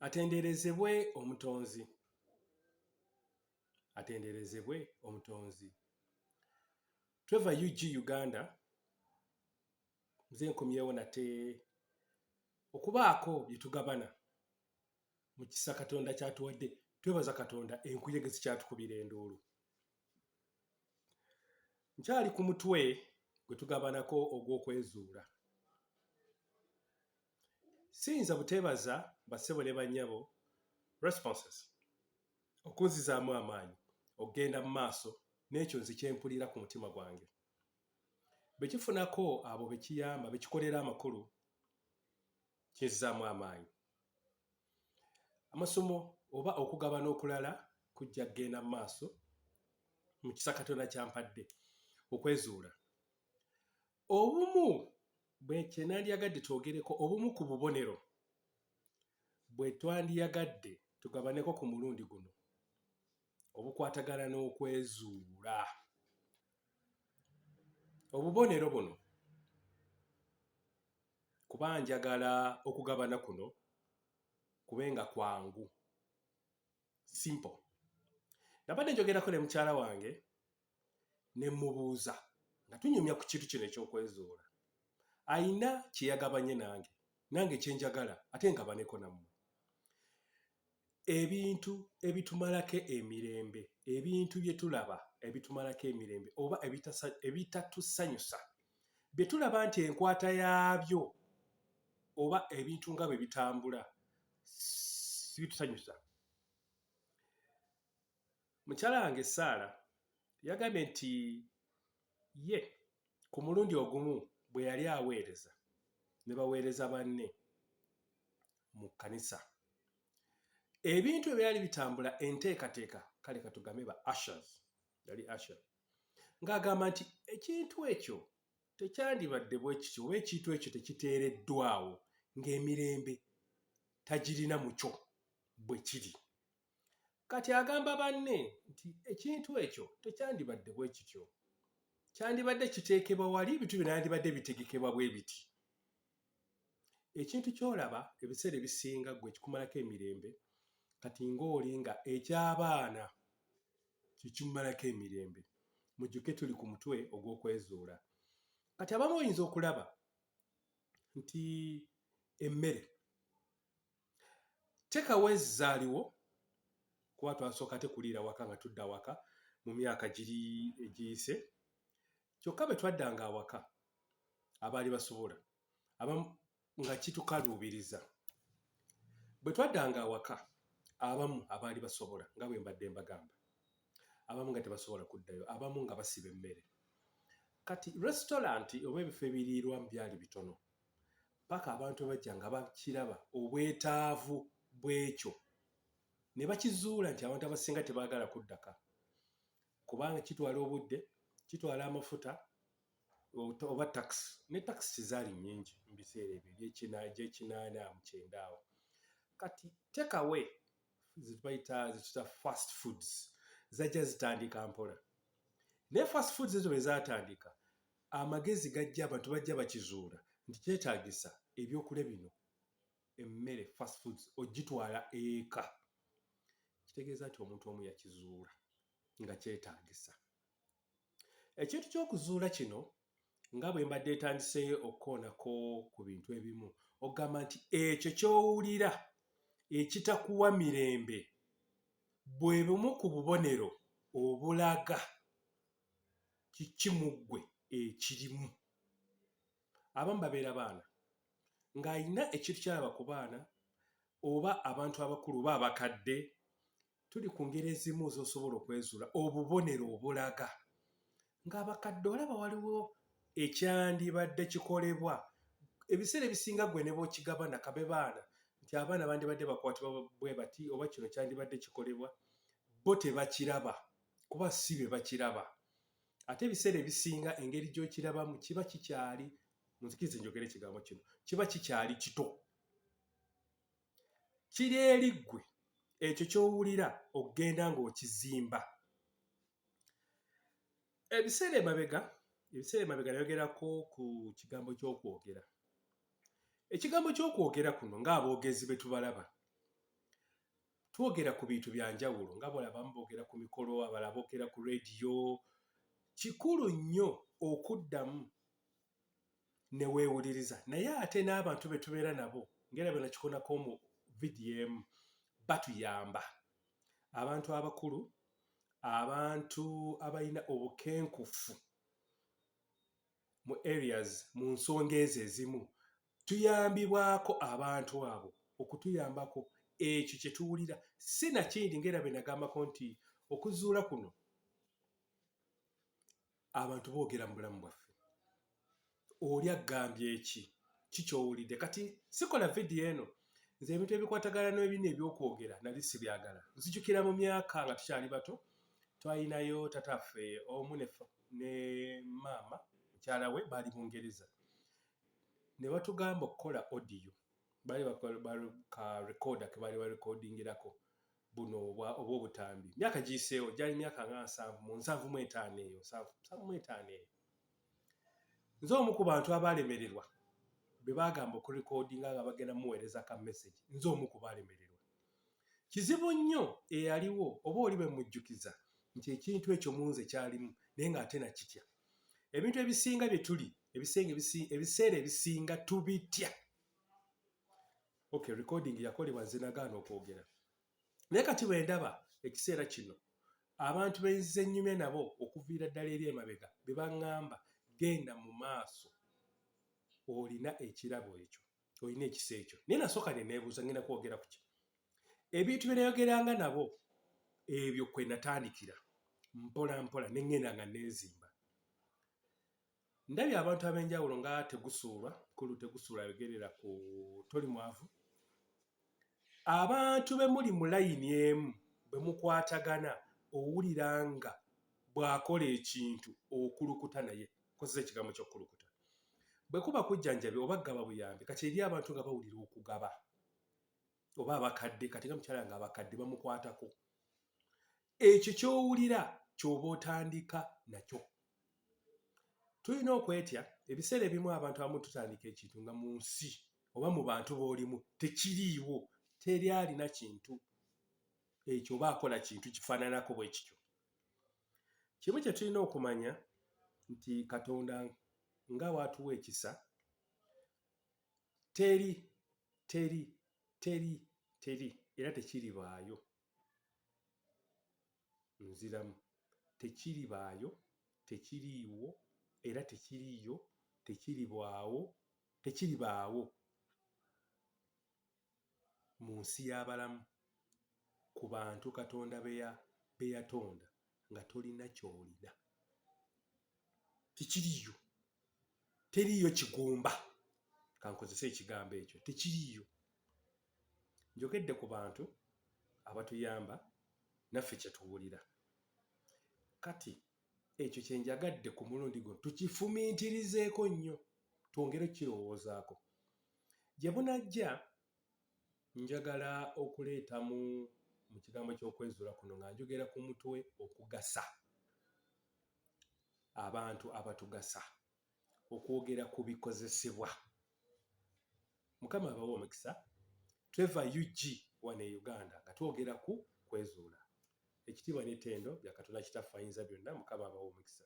Atenderezebwe omutonzi. Atenderezebwe omutonzi. Tweva UG Uganda. Mze nkomyewo nate okubaako bye tugabana mu kisa Katonda kyatuwadde. Twebaza Katonda enkuyege zikyatukubira enduulu. Nkyali ku mutwe gwe tugabanako ogw'okwezuula. Siyinza buteebaza bassebo ne bannyabo, responses, okunzizaamu amaanyi okugenda mu maaso n'ekyo nze kye mpulira ku mutima gwange. Bwe kifunako abo be kiyamba, be kikolera amakulu, kinzizaamu amaanyi. Amasomo oba okugabana okulala kujja kugenda mu maaso mu kisa Katonda ky'ampadde okwezuula. Obumu bwe kye nandyagadde twogereko obumu ku bubonero bwe twandiyagadde tugabaneko ku mulundi guno obukwatagana n'okwezuula. Obubonero buno kuba njagala okugabana kuno kube nga kwangu simple. Nabadde njogerako ne mukyala wange ne mmubuuza nga tunyumya ku kintu kino eky'okwezuula alina kye yagabanye nange nange kye njagala ate ngabaneko nammwe ebintu ebitumalako emirembe ebintu bye tulaba ebitumalako emirembe oba ebitatusanyusa bye tulaba nti enkwata yaabyo oba ebintu nga bwe bitambula sibitusanyusa Mukyala wange Saala yagambye nti ye ku mulundi ogumu bwe yali aweereza ne baweereza banne mu kkanisa ebintu ebyali bitambula enteekateeka kale katugambe ba ashers yali asher ng'agamba nti ekintu ekyo tekyandibadde bwe kityo oba ekintu ekyo tekiteereddwawo ng'emirembe tagirina mu kyo bwe kiri Kati agamba banne nti ekintu ekyo tekyandibadde bwe kityo. Kyandibadde kiteekebwa wali, ebintu bino yandibadde bitegekebwa bwe biti. Ekintu ky'olaba ebiseera ebisinga gwe kikumalako emirembe, kati ng'oli nga eky'abaana kyekimumalako emirembe. Mujjuke tuli ku mutwe ogw'okwezuula. Kati abamu oyinza okulaba nti emmere teka wezi zaliwo kuba twasoka tekuliira waka nga tudda waka mu myaka giri egiyise kyokka bwe twaddanga awaka abaali basobola aba nga kitukaluubiriza bwe twaddanga awaka abamu abaali basobola nga bwe mbadde mbagamba abamu nga tebasobola kuddayo abamu nga basiba emmere kati restaurant oba ebifo ebiriirwa mu byali bitono paka abantu bajja nga bakiraba obwetaavu bw'ekyo ne bakizuula nti abantu abasinga tebaagala kuddaka kubanga kitwala obudde kitwala amafuta oba takisi ne takisi kizaali nyingi mu biseera ebyo gyekinaana mu kyenda awo kati tekawe zibayita zituta fast foods zajja zitandika mpola naye fast foods ezo bwe zatandika Amagezi gajja abantu bajja bakizuula nti kyetaagisa ebyokulya bino emmere fast foods ogitwala eka kitegeeza nti omuntu omu yakizuula nga kyetaagisa ekintu ky'okuzuula kino nga bwe mbadde etandise okukoonako ku bintu ebimu okugamba nti ekyo ky'owulira ekitakuwa mirembe bwe bumu ku bubonero obulaga kiki mu ggwe ekirimu abamu babeera baana ng'alina ekintu kyalaba ku baana oba abantu abakulu oba abakadde tuli ku ngeri ezimu z'osobola okwezuula obubonero obulaga ng'abakadde olaba waliwo ekyandibadde kikolebwa ebiseera ebisinga gwe ne bwokigaba nakabe baana nti abaana bandibadde bakwatibwa bwe bati oba kino kyandibadde kikolebwa bo tebakiraba kuba si be bakiraba ate ebiseera ebisinga engeri gy'okirabamu kiba kikyali munzikiriza enjogera ekigambo kino kiba kikyali kito kiri eri ggwe ekyo ky'owulira okugenda ng'okizimba ebiseera emabega ebiseera emabega nayogerako ku kigambo ky'okwogera ekigambo ky'okwogera kuno ng'aboogezi be tubalaba twogera ku bintu bya njawulo nga bwala abamu boogera ku mikolo abala boogera ku rediyo kikulu nnyo okuddamu ne weewuliriza naye ate n'abantu be tubeera nabo ngera bena kikonako mu vidiyo emu batuyamba abantu abakulu abantu abalina obukenkufu mu areas mu nsonga ezo ezimu Tuyambibwako abantu abo okutuyambako ekyo kye tuwulira, si na kindi, nga era bwe nagambako nti okuzuula kuno abantu boogera mu bulamu bwaffe. Oli aggambye eki ki kyowulidde kati sikola vidiyo eno nze ebintu ebikwatagana n'ebino ebyokwogera nali sibyagala nzijukira mu myaka nga tukyali bato twalinayo tataffe omu ne maama mukyala we baali bungereza ne batugamba okukola audio bali ka rekoda ke bali barekodingirako buno oba obutambi myaka giyiseewo gyali myaka nga nsanvu mu nsanvu mu etaano eyo nsanvu mu etaano eyo nze omu ku bantu abaalemererwa be baagamba okurekodinga nga bagenda muweereza ka message nze omu ku baalemererwa kizibu nnyo eyaliwo oba oli bemujjukiza nti ekintu ekyo munze kyalimu naye ng'ate nakitya ebintu ebisinga bye tuli ebiseera ebisinga tubitya okay recording yakolebwa nze nagaana okwogera naye kati bwe ndaba ekiseera kino abantu benzize ennyumya nabo okuviira ddala eri emabega be baŋŋamba genda mu maaso olina ekirabo ekyo olina ekisa ekyo naye nasooka ne neebuuza ngenda kwogera ku ki ebintu bye nayogeranga nabo ebyo kwe natandikira mpola mpola ne ŋŋenda nga neezimba ndabye abantu ab'enjawulo nga tegusuulwa kulu tegusuulwa ayogerera ku toli mwavu abantu be muli mu layini emu bwe mukwatagana owulira nga bw'akola ekintu okulukuta naye nkozesa ekigambo ky'okukulukuta bwe kuba kujjanjabi oba gaba buyambi kati eri abantu nga bawulira okugaba oba abakadde kati nga mukyala nga abakadde bamukwatako ekyo kyowulira kyoba otandika nakyo tulina okwetya ebiseera ebimu abantu abamu tutandika ekintu nga mu nsi oba mu bantu b'olimu tekiriiwo teri alina kintu ekyo oba akola kintu kifaananako bwe kityo kimu kye tulina okumanya nti katonda nga waatuwa ekisa teri teri teri teri era tekiribaayo Nziramu. Tekiribaayo, tekiriiwo, era tekiriiyo, tekiribwawo, tekiribaawo mu nsi y'abalamu, ku bantu Katonda be yatonda, nga tolina ky'olina. Tekiriiyo. teriiyo kigumba kankozese ekigambo ekyo tekiriiyo njogedde ku bantu abatuyamba naffe kyetuwulira kati ekyo kyenjagadde ku mulundi guno tukifumiitirizeeko nnyo twongere okukirowoozaako gye bunajja njagala okuleeta mu mu kigambo ky'okwezuula kuno nga njogera ku mutwe okugasa abantu abatugasa okwogera ku bikozesebwa mukama abawa omukisa tweva ug wano e uganda nga twogera ku kwezuula ekitiibwa n'ettendo bya katonda kitaffe ayinza byonna mukama abawa omukisa